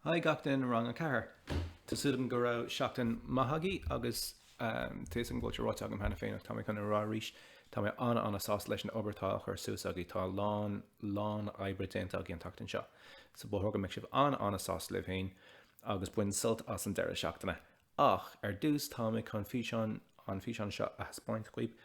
Hi gach duine rang a 4. Tá súil agam go raibh seachtain maith agaibh agus tuigim go bhfuil sé ráite agam cheana féin ach tá mé chun a rá arís, tá mé an-an-sásta leis an obair atá á chur suas agaibh. Tá a lán, lán oibre déanta agaibh an tseachtain seo so ba chóir go mbeadh sibh an-an-sásta libh féin agus bain sult as an deireadh seachtaine. Ach ar dtús, táim chun físeán, an físeán seo a thaispeáint dhaoibh,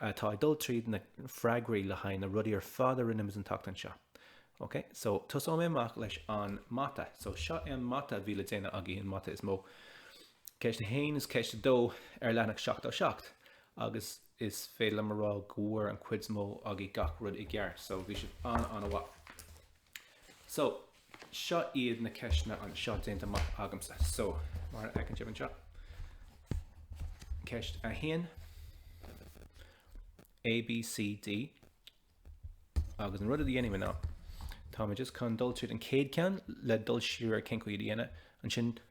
atá ag dul tríd na freagraí le haghaidh na rudaí ar fad a rinne muid an tseachtain seo. Ok, so tosóidh mé amach leis an mata. So seo é an mata a bhí le déanamh againn, an mata is mó. Ceist 1 is ceist 2 ar leathanach 77 agus is féidir liom a rá go bhfuair an chuid is mó agaibh gach rud i gceart, so bhí sibh an-an-mhaith. So, seo iad na ceisteanna anseo déanta amach agamsa. So, mar a fheiceann sibh anseo. Ceist a haon. A, B, C, D. Agus an rud a dhéanaim ná, tá mé just chun dul tríd an chéad cheann le dul siar ar cén chaoi é a dhéanamh, ansin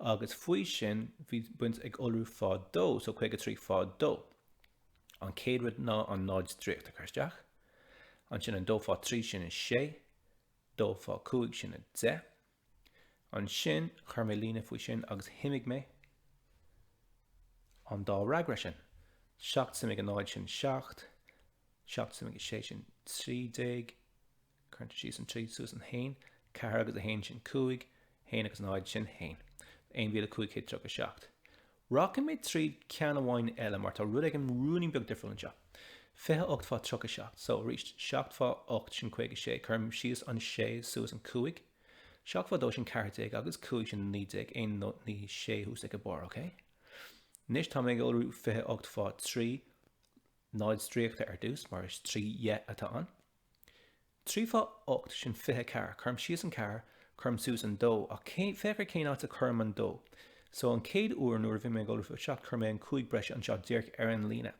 agus faoi sin bhí muid ag iolrú fá dó, so 53 fá dó. An chéad rud ná an náid stríoctha a chur isteach, ansin dó fá trí sin a sé, dó fá cúig sin a deich. Ansin chuir mé líne faoi sin agus shuimigh mé an dá fhreagra sin. Seacht suimigh a náid sin seacht, seacht suimigh a sé sin trí déag, Síos an 3, suas an haon, ceathair agus a haon sin cúig, haon agus náid sin haon. 1537 Rachaidh mé tríd ceann amháin eile mar tá rud éigin rúinín beag difriúil anseo. 28 fá 37 so, arís, seacht fá ocht sin caoga sé, cuirim síos an sé suas an cúig, seacht fá dó sin ceathair déag agus cúig sin naoi déag, aon naoi sé thuas ag an barr, ok? Anois tá mé ag iolrú 28 fá trí, náid stríoctha ar dtús mar is trí dheich atá ann, Trí fá ocht sin fiche ceathair. Cuirim síos an ceathair, cuirim suas an dó, ach féach ar cén áit a gcuirim an dó. So, an chéad uair, nuair a bhí mé ag iolrú fá seacht, chuir mé an cúig breise anseo díreach ar an líne.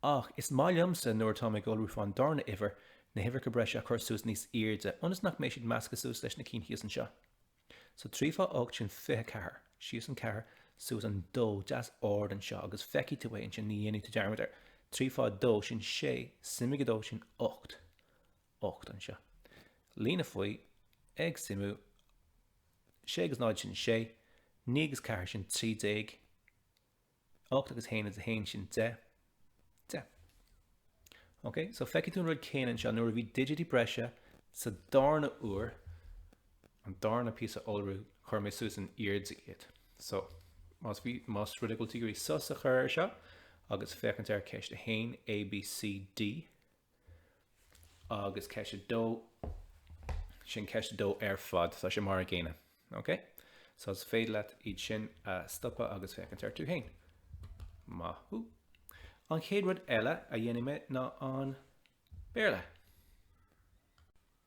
Ach is maith liomsa, nuair atáim ag iolrú fán darna uimhir, na huimhreacha breise a chur suas níos airde, ionas nach mbeidh siad measctha suas leis na cinn thíos anseo. So trí fá ocht sin fiche ceathair. Síos an ceathair, suas an dó, deas ard anseo agus feicfidh tú é ansin, ní dhéanfaidh tú dearmad air. Trí fá dó, sin sé, suimigh a dó, sin ocht. Ocht anseo. Líne faoi, ag suimiú, sé agus náid, sin sé, naoi agus ceathair, sin trí déag, 8 agus 1 is 1 sin 10, 10. Ok, so feicfidh tú an rud céanna anseo nuair a bhí digití breise sa darna uair, an darna píosa iolrú, chuir mé suas in airde iad. So, más rud é go bhfuil tú ag iarraidh sos a chur ar seo agus féachaint ar ceist 1, A, B, C, D, Agus ceist a dó, sin ceist a dó ar fad, tá sé mar an gcéanna. Ok? So is féidir leat iad sin a stopadh agus féachaint orthu féin. Maith thú. An chéad rud eile a dhéanfaidh mé ná an Béarla.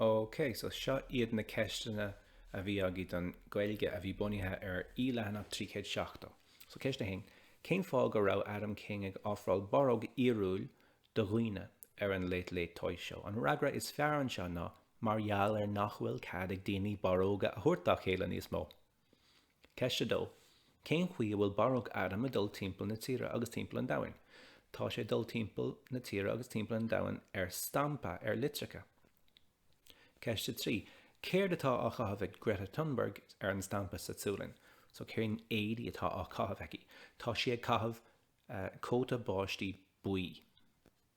OK, so seo iad na ceisteanna a bhí agaibh don Gaeilge a bhí bunaithe ar E leathanach 370. So ceist a haon, cén fáth go raibh Adam King ag ofráil barróg fhíorúil do dhaoine ar an Late Late Toy Show? An freagra is fearr anseo ná, mar gheall ar nach bhfuil cead ag daoine barróga a thabhairt dá chéile níos mó. Ceist 2. Cén chaoi a bhfuil Barróg Adam ag dul timpeall na tíre agus timpeall an domhain? Tá sé ag dul timpeall na tíre agus timpeall an domhain ar stampa, ar litreacha. Ceist 3. Céard atá á chaitheamh ag Greta Thunberg ar an stampa sa tSualainn? So cén éadaí atá á chaitheamh aici? Tá sí ag caitheamh cóta báistí buí.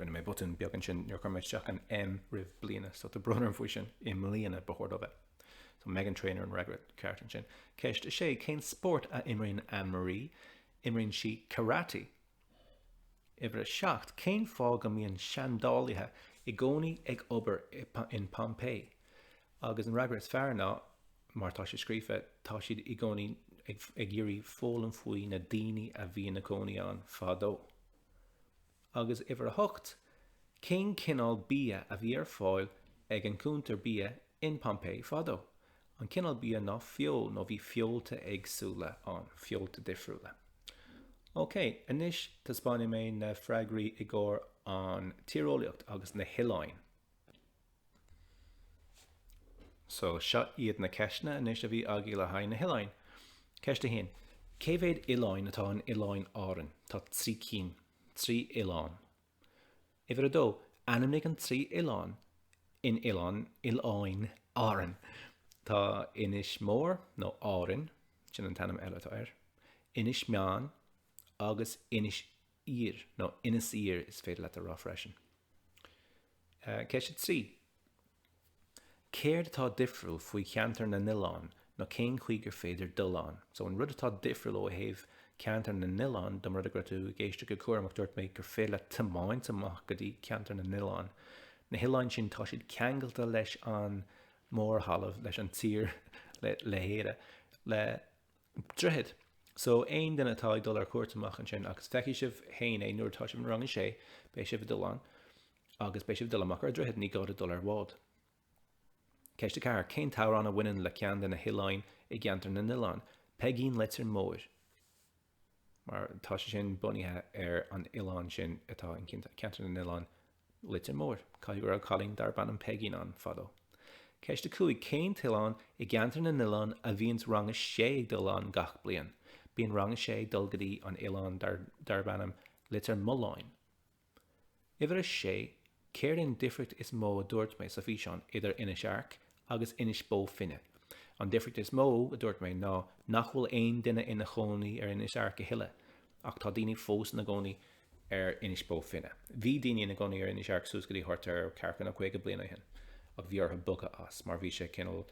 Rinne mé botún beag ansin nuair a chuir mé isteach an M roimh bliana, so tá brón orm faoi sin. I mbliana ba chóir dó a bheith. So Meghan Trainor an freagra ceart ansin. Ceist a sé, cén spórt a imríonn Anne Marie? Imríonn sí karate. Uimhir a seacht, cén fáth go mbíonn seandálaithe i gcónaí ag obair in Pompeii? Agus an freagra is fearr ná, mar tá sé scríofa, tá siad i gcónaí ag iarraidh foghlaim faoi na daoine a bhí ina gcónaí ann fadó. Agus uimhir a hocht, cén cineál bia a bhí ar fáil ag an gcuntar bia in Pompeii fadó? An cineál bia ná feoil, nó bhí feolta éagsúla ann, feolta difriúla. Ok, anois taispeánfaidh mé na freagraí i gcomhair an tíreolaíocht agus na hoileáin. So, seo iad na ceisteanna anois a bhí agaibh le haghaidh na hoileáin. Ceist a haon, Cé mhéad oileáin atá in Oileáin Árann? Tá trí cinn, trí oileán. Uimhir a dó, Ainmnigh an trí oileán in Oileán, Oileáin, Árann. Tá Inis Mór, nó Árainn, sin an t-ainm eile atá air, Inis Meáin agus Inis Oírr, nó Inis Oirthir is féidir leat a rá freisin. Ceist 3 Céard atá difriúil faoi cheantar na nOileán nó cén chaoi gur féidir dul ann, so an rud atá difriúil ó thaobh Ceantar na nOileán de mura raibh tú ag éisteacht go cúramach dúirt mé gur féidir leat tiomáint amach go dtí Ceantar na nOileán, na hoileáin sin tá siad ceangailte leis an mórthalamh, leis an tír, le hÉire, le. Droichead. So, aon duine atá ag dul ar cuairt amach ansin, agus feicfidh sibh féin é nuair atá sibh i rang a sé, beidh sibh ag dul ann agus beidh sibh ag dul amach ar droichead, ní gá duit dul ar bhád. Ceist 4. Cén t-amhrán a bhaineann le ceann de na hoileáin i gceantar na nOileán? Peigín Leitir Móir. Mar tá sé sin bunaithe ar an oileán sin atá i gceantar na nOileán Leitir Móir. Caithfidh go raibh cailín darb ainm Peigín ann fadó. Ceist 5, Cén t-oileán i gceantar na nOileán a bhíonns rang 6 ag dul ann gach bliain? Bíonn rang 6 ag dul go dtí an oileán darb ainm Leitir Mealláin. Uimhir 6, Céard é an difríocht is mó a dúirt mé sa bhfíseán idir Inis Airc agus Inis Bó Finne. An difríocht is mó, a dúirt mé, ná nach bhfuil aon duine ina chónaí ar Inis Airc a thuilleadh, ach tá daoine fós ina gcónaí ar Inis Bó Finne. Bhí daoine ina gcónaí ar Inis Airc suas go dtí thart ar ceathracha nó caoga bliain ó shin, ach bhí orthu bogadh as mar bhí sé cineál,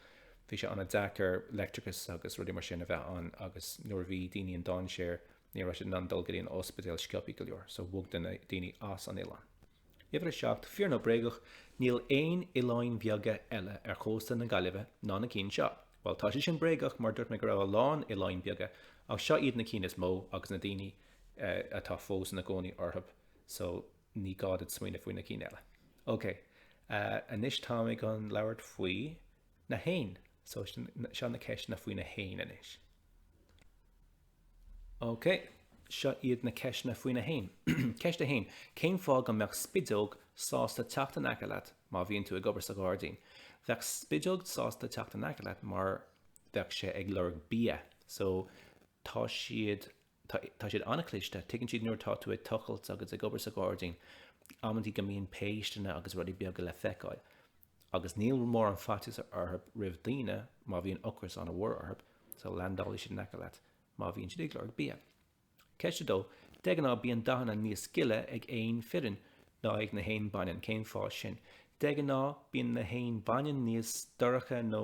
bhí sé an-deacair leictreachas agus rudaí mar sin a bheith ann agus nuair a bhí daoine i ndainséar ní raibh siad in ann dul go dtí an ospidéal sciobtha go leor, so bhog duine daoine as an oileán. Uimhir 7, Fíor nó bréagach, níl aon oileáin bheaga eile ar chósta na Gaillimhe ná na cinn seo. Bhuel, tá sé sin bréagach mar dúirt mé go raibh a lán oileáin bheaga ach seo iad na cinn is mó agus na daoine atá fós ina gcónaí orthu so ní gá duit smaoineamh faoi na cinn eile. Ok, anois táim ag dul ag labhairt faoi na héin so seo na ceisteanna faoi na héin anois. OK, seo iad na ceisteanna faoi na héin. Ceist a haon, cén fáth go mbeadh spideog sásta teacht in aice leat má bhíonn tú ag obair sa ghairdín? Bheadh spideog sásta teacht in aice leat mar bheadh sé ag lorg bia. So, tá siad, tá siad an-chliste, tuigeann siad nuair atá tú ag tochailt agus ag obair sa ghairdín, amantaí go mbíonn péisteanna agus rudaí beaga le feiceáil. agus níl mórán faitíos orthu roimh daoine má bhíonn ocras an-mhór orthu, so landálfaidh siad in aice leat má bhíonn siad ag lorg bia. Ceist 2, De ghnáth bíonn dathanna níos gile ag éin fireann ná ag na héin baineann, cén fáth sin? De ghnáth bíonn na héin baineann níos dorcha nó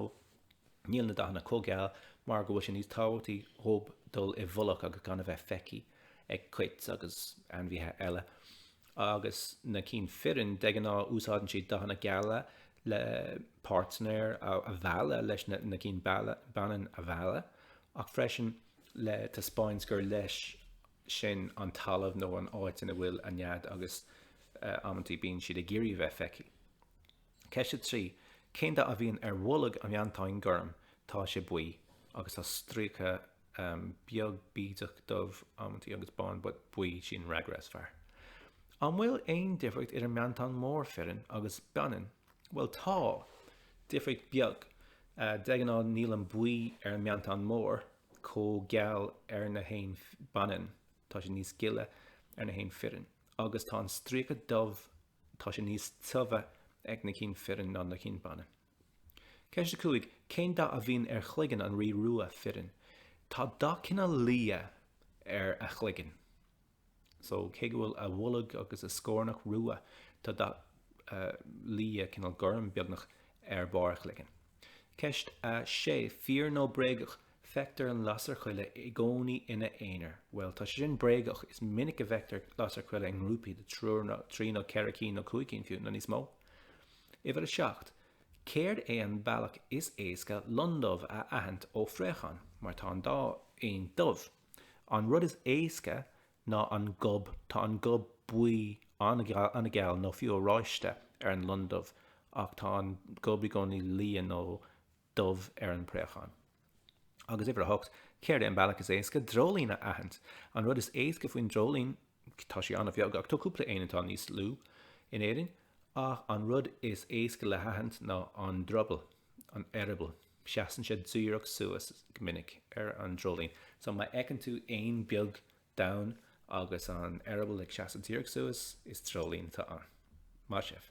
níl na dathanna chomh geal mar go bhfuil sé níos tábhachtaí dhóib dul i bhfolach agus gan a bheith feicthí ag coit agus ainmhithe eile. agus na cinn fireann, de ghnáth, úsáideann siad dathanna geala le páirtnéir a mhealladh leis na cinn baineann a mhealladh, ach freisin le taispeáint gur leis sin an talamh nó an áit ina bhfuil a nead agus amantaí bíonn siad ag iarraidh a bheith feicthe. Ceist 3, Cén dath a bhíonn ar bholg an mheantáin ghoirm? Tá sé buí agus tá stríoca. éan beag bídeach dubh amantaí agus bán but buí sin an freagra is fearr. An bhfuil aon difríocht idir meantán mór fireann agus baineann? Bhuel tá! Difríocht beag. De ghnáth níl an buí ar meantán mór chomh geal ar na héin baineann, tá sé níos gile ar na héin fireann. Agus tá an stríoca dubh, tá sé níos tiubhe ag na cinn fireann ná na cinn baineann. Ceist 5 Cén dath a bhíonn ar chloigeann an rí rua fireann? Tá dath cineál liath ar a chloigeann. So cé go bhfuil a bholg agus a scornach rua, tá dath liath, cineál gorm beagnach, ar barr a chloigeann. Ceist 6 Fíor nó bréagach Feictear an lasair choille i gcónaí ina aonar. Bhuel, tá sé sin bréagach, is minic a bhfeictear lasair choille i ngrúpaí de trí nó ceithre cinn nó cúig cinn fiú, nó níos mó. Uimhir a seacht, céard é an bealach is éasca londubh a aithint ó phréachán? Mar tá an dá éan dubh. An rud is éasca ná an gob, tá an gob buí an-gheal nó fiú oráiste ar an londubh ach tá an gob i gcónaí liath nó. dubh ar an bpréachán. Agus uimhir a hocht, céard é an bealach is éasca dreoilín a aithint? An rud is éasca faoin dreoilín, tá sé an-bheag ach tá cúpla éan atá níos lú in Éirinn, ach an rud is éasca le haithint ná an drubal, an eireaball. Seasann sé díreach suas go minic ar an dreoilín. So má fheiceann tú éan beag donn agus an eireaball ag seasamh díreach suas, is dreoilín atá ann. Maith sibh!